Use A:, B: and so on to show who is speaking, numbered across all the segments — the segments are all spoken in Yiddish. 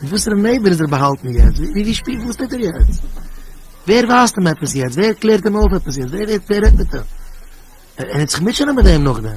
A: מיט וואסערע נערווען איז ער באהאלטן יעצט? ווי ווי שפיל וואס טוט ער יעצט? ווער ווייזט אים עפעס יעצט? ווער קלערט אים אויף עפעס יעצט? ווער רעדט ווער רעדט מיט אים? ער וועט זיך מוטשענען מיט דעם נאכדעם.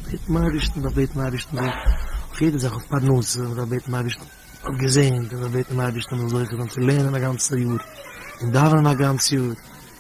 A: בעטן דעם אייבערשטן, דארף בעטן דעם אייבערשטן אויף יעדע זאך, אויף פרנסה, מען דארף בעטן דעם אייבערשטן אויף געזונט, מען דארף בעטן דעם אייבערשטן מען זאל זוכה זיין צו לערנען א גאנצע יאר און דאווענען א גאנץ יאר,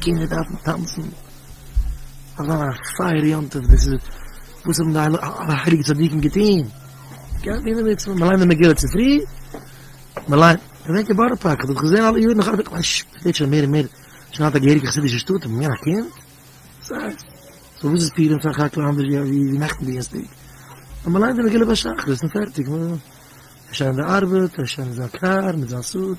A: קינדער דארפן טאנצן, אזא פייער יום טוב, דאס איז וואס האבן די הייליגע צדיקים געטוהן, גייט מען אינעם מצוה, מען ליינט די מגילה צופרי, מען ליינט, געדענק אין בארא פארק, כ'האב געזען אלע יארן, כ'זע שוין מער און מער, שוין אלט א געהעריגע חסידישע שטאט, און מיר א קינד, סא וואס איז פורים פאר חק ל אנדערש ווי נעכטן דינסטאג, אז מען ליינט די מגילה ביי שחרית און פערטיג, ער איז שוין אין די ארבעט, ער איז שוין אין זיין קאר מיט זיין סוט.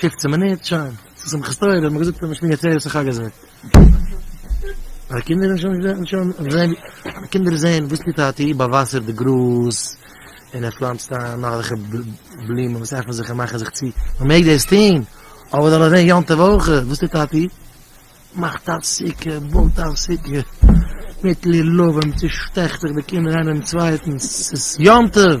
A: פופצן מינוט שוין צו שמחת תורה האט מען געזאגט אז מ'שמירט זרע צו חג הסוכות. די קינדער האבן שוין געזען שוין געזען די קינדער זען וואס טוט טאטי באוואסערט די גראז און ער פלאנצט איין נאך אזעלכע בלומען וואס עפענען זיך און מאכן זיך צו מ'מעג דאס טון אבער זאל עס זען יום טוב אויך וואס טוט טאטי מאכט א סוכה בויט א סוכה מיט לולבים צושטעכט זיך די קינדער איינער דעם צווייטן ס'איז יום טוב.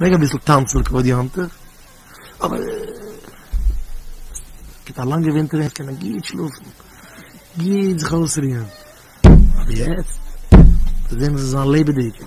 A: מעג אביסל טאנצן לכבוד יום טוב, אבער גיט א לאנגע ווינטער ווען עס קען מען גוט שלאפן, גוט זיך אויסרוען, אבער יעצט, זעהן מיר זיי זיין לעבעדיג.